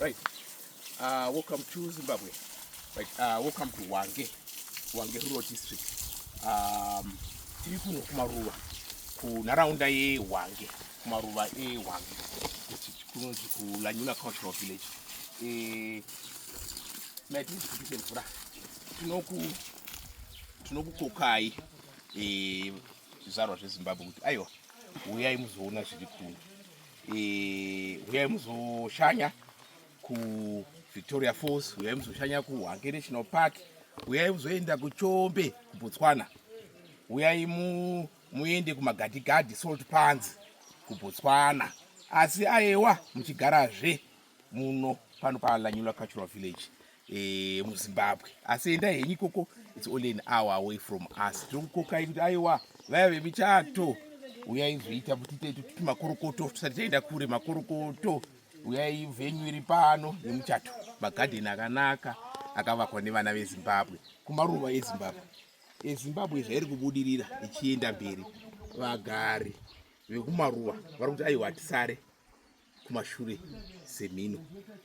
Right. Uh, welcome to Zimbabwe. Right. Uh, welcome to Wange. Wange Rural District. Um, tiri kuno kumaruva kunharaunda yeHwange kumaruva eHwange kunonzi kuLanyula Cultural Village. Eh, maitiri kuti mvura tinoku tinokukokai eh, zvizvarwa zvezimbabwe kuti aiwa huyai muzoona zviri kuno eh, huyai muzoshanya kuvictoria falls huyai muzoshanya kuhwange national park huyai muzoenda kuchombe kubotswana huyai muende kumagadigadhi salt pans kubotswana asi aewa muchigarazve muno pano paalanyula cultural village eh, muzimbabwe asi endai henyu ikoko its only an hour away from us tinokukokai kuti aiwa vaya vemichato uyai zvoita kuti tiite tuti makorokoto tisati taenda kure makorokoto uyai venyu iri pano nemuchato magadheni akanaka akavakwa nevana vezimbabwe kumaruva ezimbabwe ezimbabwe zvairi kubudirira ichienda mberi vagari vekumaruva vari kuti aiwa tisare kumashure semhino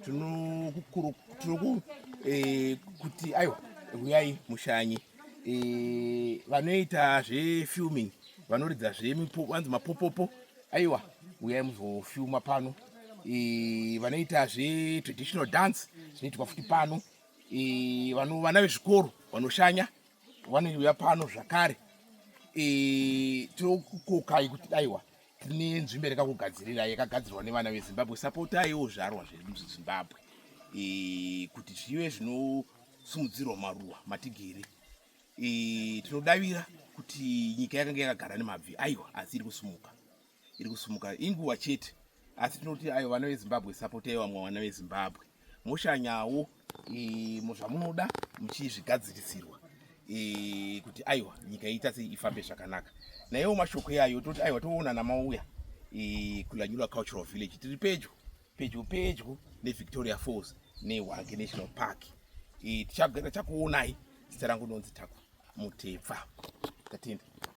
tinokukuru tinoku eh, kuti aiwa huyai mushanye eh, vanoita zvefilming vanoridza zvevanzi mapopopo aiwa huyai muzofilma pano eh, vanoita zvetraditional dance zvinoitwa futi pano eh, vano vana vezvikoro vanoshanya vanouya pano zvakare eh, tinokukokai kuti aiwa tine nzvimbo irekakugadzirira yakagadzirwa nevana vezimbabwe sapotaiwo zvarwa zvedu muzvizimbabwe e, kuti zvive zvinosumudzirwa maruwa matigere e, tinodavira kuti nyika yakanga yakagara nemabvi aiwa asi iri kusumuka iri kusumuka inguva chete asi tinoti ayo vana vezimbabwe sapotaiwo vamwe vana vezimbabwe moshanyawo e, muzvamunoda muchizvigadzirisirwa e, kuti aiwa nyika iita sei ifambe zvakanaka naiwo mashoko iyayo toti aiwa toonana mauya e, kulanyula cultural village tiri pedyo pedyo pedyo nevictoria falls nehwange national park e, tichagara chakuonai zita rangu nonzi taku mutepfa tatenda